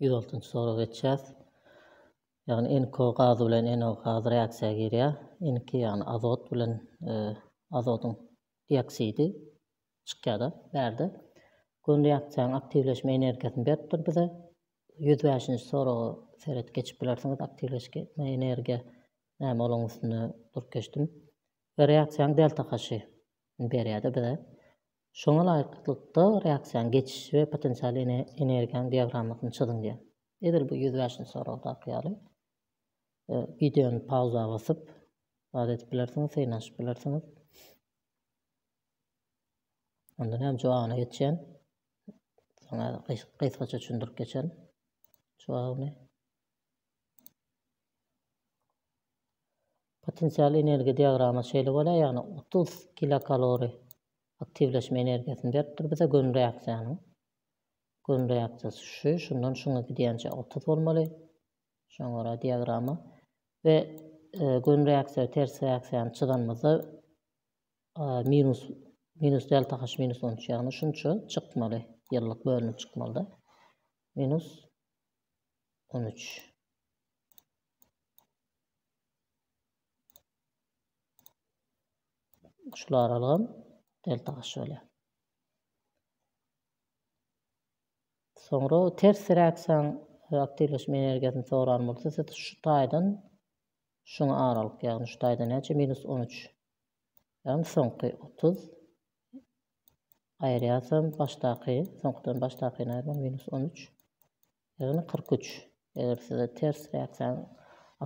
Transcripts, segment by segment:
Ýüz altynjy sorag geçýäs. Ýagny NK gazy bilen NO gazy reaksiýa girýär. NK ýagny azot bilen e, azodyň dioksidi çykýar-da bärde. Gün reaksiýanyň aktiwleşme energiýasyny beripdir bize. 105-nji soraga seret geçip bilersiňiz. Aktiwleşme energiýa näme olaň üstünde durup geçdim. Reaksiýanyň delta haşy berýär-de bize. Şoňa laýyklykda reaksiýanyň geçiş we potensial energiýanyň diagrammasyny çyzyň diýýär. Edil bu ýüz bäşinji soragdaky ýaly wideony pauza basyp zat edip bilersiňiz, synanyşyp bilersiňiz. Ondan hem jogabyna geçýän. Soňra gysgaça düşündirip geçerin jogabyny. Potensial energiýa diagramasy şeýle bolýar, ýagny otuz kilokalori aktiwleşme energiýasyny beripdir bize gönü reaksiýanyň. Gönü reaksiýasy şu, şundan şuňa gidýänçä otuz bolmaly. Şoňa görä diagrama we e, gönü reaksiýa we ters reaksiýany çyzanymyzda e, minus minus delta h minus on üç ýagny şunça çykmaly ýyllyk bölünip çykmalyda minus on üç Şul aralygam delta aşy bolýar. Soňra ters reaksiýaň e, aktiwleşme energiýasyny soran bolsa, siz şu taýdan şuňa aralyk, ýagny şu taýdan näçe minus 13. Ýagny soňky 30 aýyrýarsam başdaky, soňkudan başdakyny aýyrmak minus 13. Ýagny kyrk üç. Eger size ters reaksiýanyň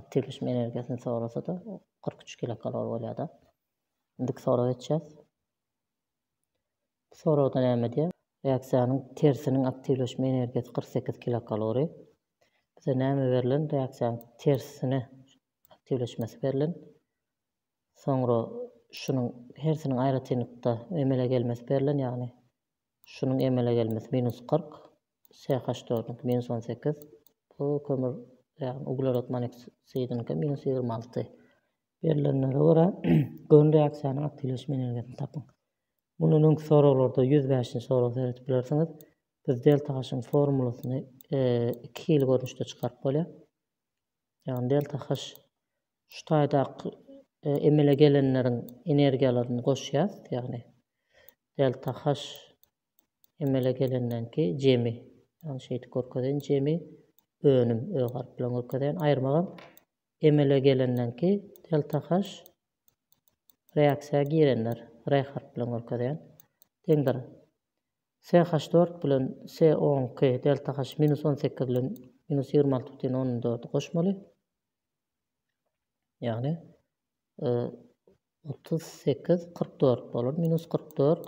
aktiwleşme energiýasyny sorasa-da, kyrk üç kilokalori bolýar-da. Indiki soraga geçýäs. Bu soragda näme diýýär? Reaksiýanyň tersiniň aktiwleşme energiýasy kyrk sekiz kilokalori. Bize näme berlen? Reaksiýanyň tersine aktiwleşmesi berlen. Soňra şunuň hersiniň aýratynlykda emele gelmesi berlen, ýagny şunuň emele gelmesi minus kyrk, CH dördüňki minus on sekiz. Bu kömür ýagny uglerod monoksidiňki minus ýigrimi alty. Berlenlere görä gön reaksiýanyň aktiwleşme energiýasyny tapyň. Mundan öňki soraglarda ýüz bäşinji soraga seredip bilersiňiz. Biz delta H-yň formulasyny iki hili görnüşde çykaryp bolýar. Ýagny delta H şu taýdaky emele gelenleriň energiýalaryny goşýas, ýagny delta H Emele gelenden ki jemi, ýagny şeýdip görkezýän jemi önüm ö harp bilen görkezýän aýyrmagam emele gelenden ki delta h reaksiýa girenler re harp bilen görkezýän deňdir se haş dört bilen se on ki delta h minus on sekiz bilen minus ýigrimi alty butyn ondan dördi goşmaly ýagny otuz sekiz kyrk dört bolar minus kyrk dört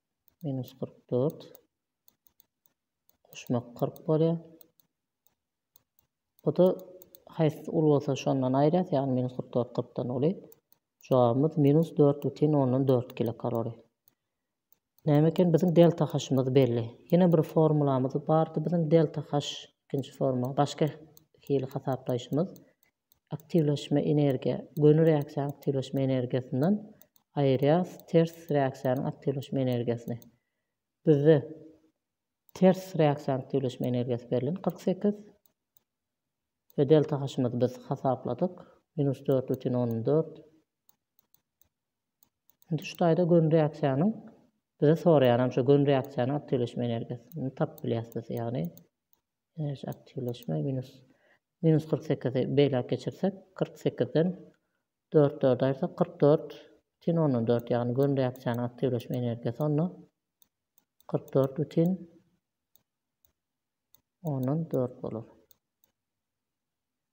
Minus kyrk dört. Goşmak kyrk bolýar. Bu da haýsy uly bolsa şondan aýyrýas, ýagny minus kyrk dört kyrkdan uly. Jogabymyz minus dört bütin ondan dört kilokalori. Näme eken biziň delta haşymyz belli. Ýene bir formulamyz bardy biziň delta haş ikinji formula. Başga hili hasaplaýşymyz Aktiwleşme energiýa, göni reaksiýanyň aktiwleşme energiýasyndan aýyrýarys ters reaksiýanyň aktiwleşme energiýasyny. Bizde ters reaksiýanyň aktiwleşme energiýasy berlen kyrk sekiz we delta haşymyzy biz hasapladyk minus dört bütin ondan dört. Indi şu taýda göni reaksiýanyň bize soraýanam şu göni reaksiýanyň aktiwleşme energiýasyny tapyp bilýäris biz ýagny Enerji aktiwleşme minus minus kyrk sekizi beýläk geçirsek, kyrk sekizden dört dört aýyrsak, kyrk dört bütin ondan dört, ýagny gön reaksiýanyň aktiwleşme energiýasy onda kyrk dört bütin ondan dört bolar.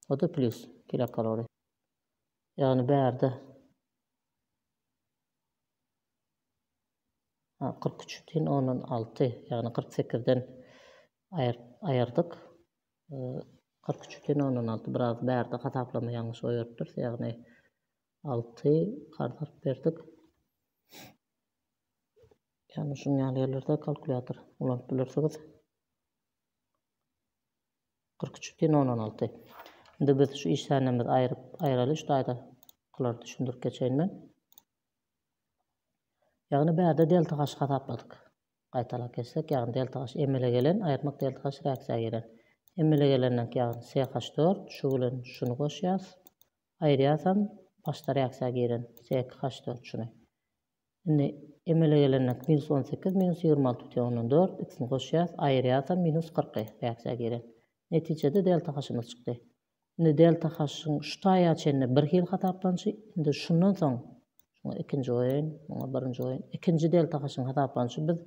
O-da plyus kilokalori. Ýagny bärde kyrk üç tiýin ondan alty, ýagny kyrk sekizden aýyrdyk. Kyrk üç tiýin ondan alty biraz bärde hasaplama ýalňyş goýberipdiris, ýagny alty karz alyp berdik. Ýagny şunuň ýaly ýerlerde kalkulýator ulanyp bilersiňiz. Kyrk üç tiýin ondan alty. Indi biz şu işdänimizi aýyraly, şu taýda olar düşündirip geçeýin men. Ýagny bärde delta-h hasapladyk. Gaýtalap geçsek, ýagny delta-h emele gelen, aýyrmak delta-h reaksiýa gelen. Emele gelenden ýagny CH4, şu bilen şuny goşýas, aýyrýasam, başda reaksiýa giren C2H4 şuny. Indi emele gelenden minus on sekiz, minus ýigrimi alty bütin ondan dört, ikisini goşýas, aýyrýasam, minus kyrky reaksiýa giren. Netijede delta-h-ymyz çykdy. Indi delta h-yň şu taýa çenli bir hil hasaplanyşy, indi şundan soň, şuňa ikinji goýaýyn, muňa birinji goýaýyn, ikinji delta h-yň hasaplanyşy biz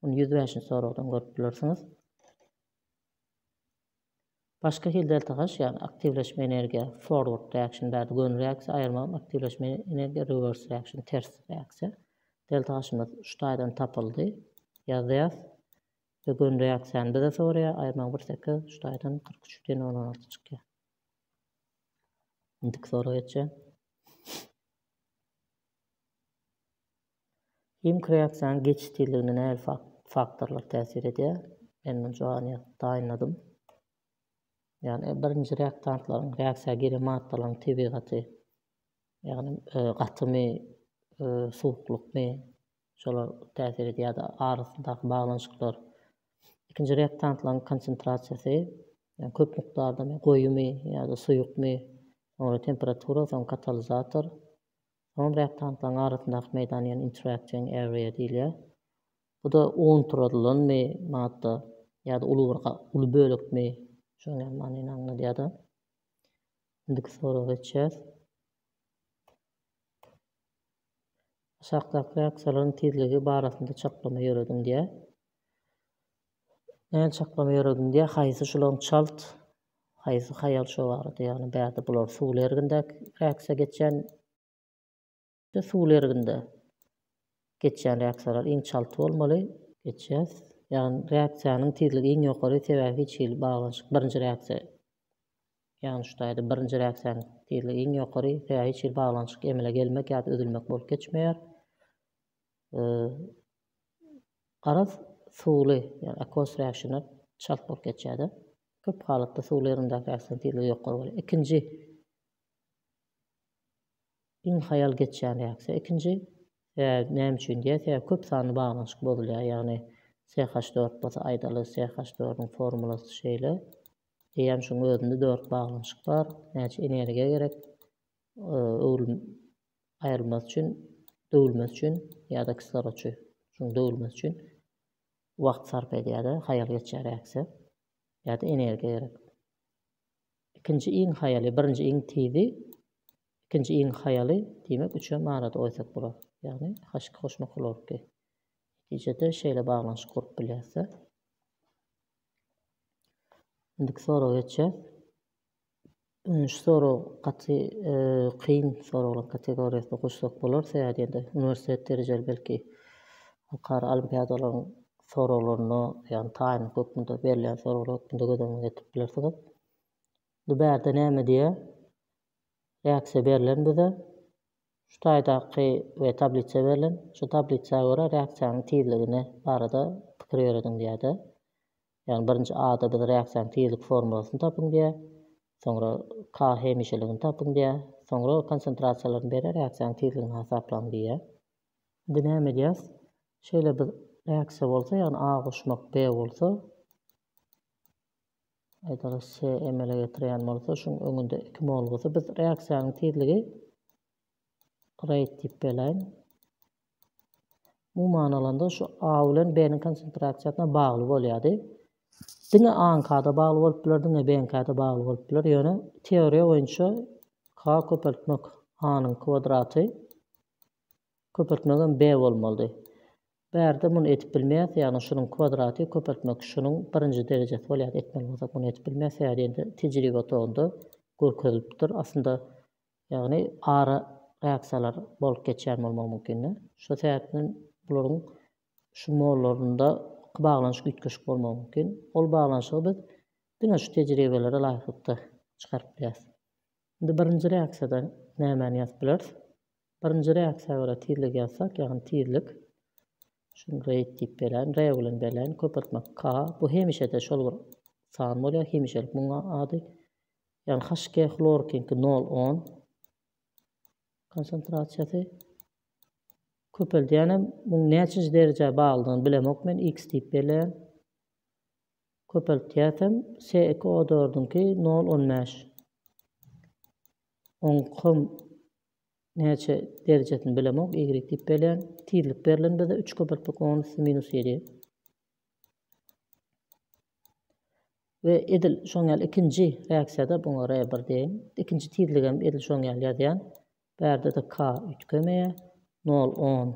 muny ýüz bäşinji soragdan görüp bilersiňiz. Başga hil delta h, ýagny aktiwleşme energiýa, forward reaction bärde gönül reaksiýa, aýyrmagam aktiwleşme energiýa, reverse reaction ters reaksiýa. Delta h-ymyz şu taýdan tapyldy, ýazýas. Şu gün reaksiýany bize soraýar, aýyrmaň bir sekiz, şu taýdan kyrk üç diýen on on alty çykýar. Indiki soraga geçýän. Himiki reaksiýanyň geçiş tizligine nähili faktorlar täsir edýär? Men muny jogany taýynladym. Ýagny birinji reaktantlaryň reaksiýa giren maddalaryň tebigaty, ýagny gatymy, suwuklykmy, Şolar täsir edýär-de, arasyndaky baglanyşyklar. Ikinji reaktantlaryň konsentrasiýasy, ýagny köp mukdardamy, goýumy ýa-da suýukmy, soňra temperatura, soň katalizator. Soňam reaktantlaryň arasyndaky meýdan, ýagny interaction area diýilýär. Bu-da unturadylanmy madda ýa-da uly bir uly bölekmi, şonuň ýaly manyny aňladýar-da. Indiki soraga geçýäs. Aşakdaky reaksiýalaryň tizligi barasynda çaklama ýörediň diýýär. Näme çaklama ýörediň diýýär, haýsy şulaň çalt, haýsy haýal şo barada, ýagny bärde bular suwly ergindäki reaksiýa geçýän we suwly erginde geçýän reaksiýalar iň çalt bolmaly, geçýär. Ýagny reaksiýanyň tizligi iň ýokary, sebäbi hiç hili baglanyşyk, birinji reaksiýa Ýagny şu taýda birinji reaksiýanyň tizligi iň ýokary, sebäbi hiç hili baglanyşyk emele gelmek ýa-da üzülmek bolup geçmeýär. Garaz, suwly, ýagny aqueous reaction çalt bolup geçýär-de. Köp halatda suwly ýerindäki reaksiýanyň tizligi ýokary bolýar. Ikinji iň haýal geçýän reaksiýa ikinji. Sebäbi näme üçin diýýär? Sebäbi köp sanly baglanyşyk bozulýar, ýagny CH4 bolsa aýdaly CH4-iň formulasy şeýle. Eýýäm şuň özünde dört baglanyşyk bar. Näçe energiýa gerek? Öwrüm aýrylmasy üçin, döwülmesi üçin ýa-da kislorod üçin. Şuň döwülmesi üçin wagt sarp edýär-de, haýal geçýär äkse. Ýa-da energiýa gerek. Ikinji iň haýaly, birinji iň tizi, ikinji iň haýaly, diýmek, üçem arada goýsak bolar. Ýagny H2 goşmak hlorki. Netijede şeýle baglanyşyk gurup bilýäris-de. Indiki soraga geçýär. Şu sorag gaty kyn soraglaryň kategoriýasyna goşsak bolar, sebäbi diýende uniwersitet derejeli belki halkara olimpiadalaryň soraglaryna, ýagny taýynlyk hökmünde berilýän soraglar hökmünde göz öňüňe getirip bilersiňiz. Bu bärde näme diýýär? Reaksiýa berlen bize şu taýdaky we tablisa berlen. Şu tablisa görä reaksiýanyň tizligine barada pikir ýörediň diýäde. Ýagny birinji A-da biz reaksiýanyň tizlik formulasyny tapyň diýär. Soňra K hemişeligini tapyň diýär. Soňra konsentrasiýalaryny berýär, reaksiýanyň tizligini hasaplaň diýýär. Indi näme edýäs? Şeýle bir reaksiýa bolsa, ýagny A goşmak B bolsa, Eger se emele getirýän bolsa, şuň öňünde iki molgusy biz reaksiýanyň tizligi rate diýip belaýyn. Umuman alanda şu A bilen B-niň konsentrasiýasyna bagly bolýardy. Diňe A-nyňka-da bagly bolup biler, diňe B-niňka-da bagly bolup biler. Ýöne teoriýa boýunça K köpeltmek A-nyň kwadraty Köpeltmegem B bolmalydy. Bärde muny edip bilmeýäs, ýagny şunuň kwadraty köpeltmek şunuň birinji derejesi bolýar, etmeli bolsak muny edip bilmeýäs, sebäbi diýende tejribe otagynda görkezilipdir. Aslynda, ýagny ara reaksiýalar bolup geçýän bolmagy mümkin-de. Şu sebäpden bularyň şu mollarynda iki baglanyşyk üýtgeşik bolmagy mümkin. Ol baglanyşygy biz diňe şu tejribelere laýyklykda çykaryp bilýäs. Indi birinji reaksiýada nämäni ýazyp bileris? Birinji reaksiýa görä tizligi ýazsak, ýagny tizlik. Şuny rate diýip belän, re bilen belän, köpeltme k. Bu hemişe-de şol bir san bolýar, hemişelik munuň ady. Ýagny HK hlorkiňki nol on konsentrasiýasy. Köpeldýänem munuň näçinji derejä baglydygyny bilemok men, x diýip belän. Köpeltýäsem se iki o dördüňki nol on bäş. Oň kom näçe derjesini bilemok y diýip belän. Tizlik berlen bize üç köpeltmek on üsti minus ýedi. We edil şoň ýaly ikinji reaksiýada buňa re bir deýin. Ikinji tizligem edil şoň ýaly ýazýan. Bärde-de k üýtgemeýä. Nol on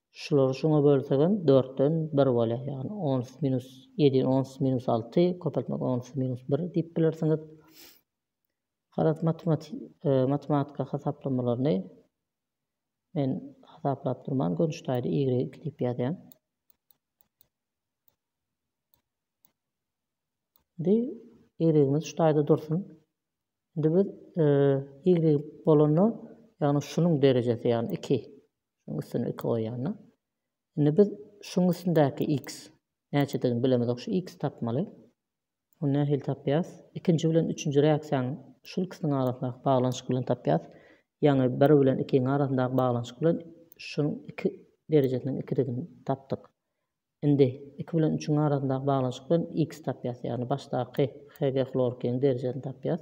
Şulary şuňa bölsegem dörtden bir bolýar, ýagny on üç minus ýedi, on üç minus alty, köpeltmek on üç minus bir diýip bilersiňiz. Garaz matematika hasaplamalaryny men hasaplap durman gönçtaýda y iki diýip ýazýan. Indi y-imiz şu taýda dursun. Indi biz y bolanda, ýagny şunuň derejesi, ýagny 2 Şonuň üstüne iki goýanda. Indi biz şuň üstündäki x näçedigini bilemizok. Şu x tapmaly. Ony nähili tapýas? Ikinji bilen üçünji reaksiýanyň şul ikisiniň arasyndaky baglanyşyk bilen tapýas. Ýagny bir bilen ikiň arasyndaky baglanyşyk bilen şuň iki derejesiniň ikidigini tapdyk. Indi iki bilen üçüň arasyndaky baglanyşyk bilen x tapýas. Ýagny başdaky Hg hlorkiniň derejesini tapýas.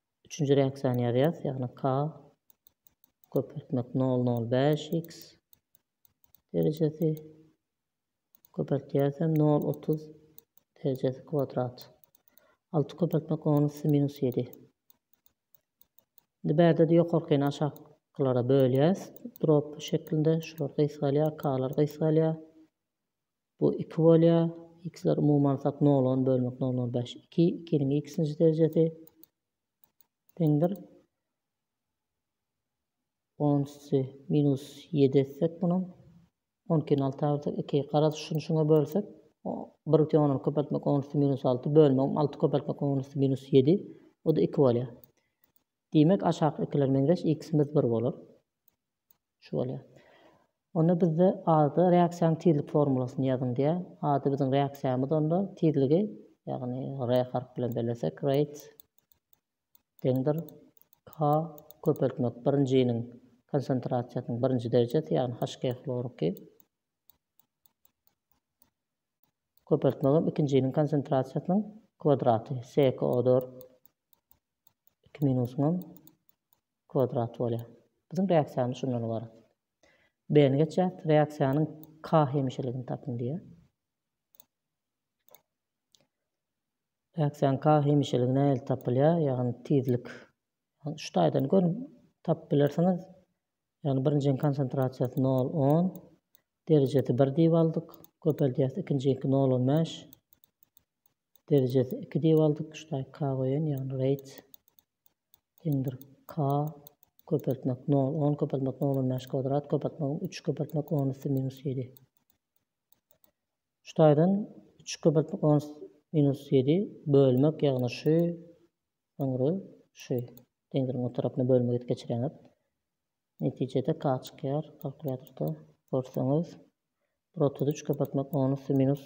Üçünji reaksiýany ýazýas, ýagny k köpeltmek nol nol bäş x derejesi köpeltýäsem nol otuz derejesi kwadrat. Alty köpeltmek on üsti minus ýedi. Indi bärde-de ýokarkyny aşak kylara bölýäs drop şeklinde şular gysgalýar k-lar gysgalýar Bu iki bolýar. X-ler umumy alsak nol on bölmek nol nol bäş iki. Ikiniň x-nji derejesi deňdir. On üsti minus ýedi etsek munuň. On ikini alta bölsek iki. Garaz şuny şuňa bölsek bir biten on on köpeltmek on üsti minus alty bölmegim alty köpeltmek on üsti minus ýedi. Bu-da iki bolýar. Diýmek aşaky ikiler meňzeş x-imiz bir bolar. Şu bolýar. Onda bizde A-da reaksiýanyň tizlik formulasyny ýazyň diýýär. A-da biziň reaksiýamyz onda tizligi, ýagny R harpy bilen bellesek, rate deňdir K köpeltmek birinjiniň konsentrasiýasynyň birinji derejesi, ýagny HG hloriki köpeltmegem ikinjiniň konsentrasiýasynyň kwadraty, CkO4 2 minus m kwadrat bolýar. Biziň reaksiýamyz şundan ybarat. B-ni geçýäs, reaksiýanyň K hemişeligini tapyň diýýär. Reaksiýanyň K hemişeligi nähili tapylýar? Ýagny tizlik. Şu taýdan görüň, tapyp bilersiňiz. Ýagny birinjiň konsentrasiýasy 0, 10, derejesi 1 diýip aldyk. Köpeldýäs, ikinjiňki 0, 15. Derejesi iki diwal dykgyçdaky k goýan, ýagny reýds deňdir k köpeltmek nol, on köpeltmek nol on bäş kwadrat köpeltmegim üç köpeltmek on üsti minus ýedi. Şu taýdan üç köpeltmek on üsti minus ýedi bölmek, ýagny şu öňre şu deňdiriň o tarapyna bölmek edip geçireňiz. Netijede k çykýar kalkulýatorda görseňiz. Bir otuz üç köpeltmek on üsti minus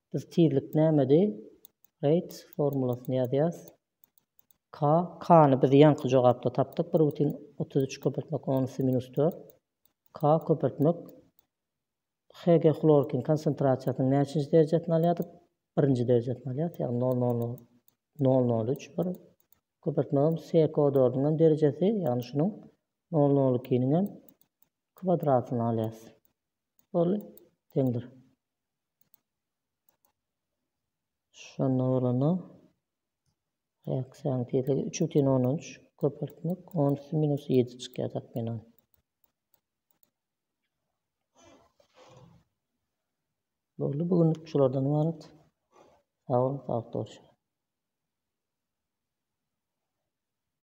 Biz tizlik nämedi? Rate formulasyny ýazýas. K, K-ny biz ýaňky jogapda tapdyk, bir butin otuz üç köpeltmek on üsti minus dört. K köpeltmek HG hlorkin konsentrasiýasynyň näçinji derejesini alýardyk? Birinji derejesini alýarys, ýagny nol nol nol nol nol üç bir. Köpeltmegem SO dördüň hem derejesi, ýagny şunuň nol nol ikiniň hem kwadratyny alýarys. Boldy, deňdir. Şonda bolanda reaksiýanyň tizligi üç bütin ondan üç köpeltmek on üsti minus ýedi çykýar takmynan. Boldy bu günlük şulardan ibarat. Sag boluň, saglyk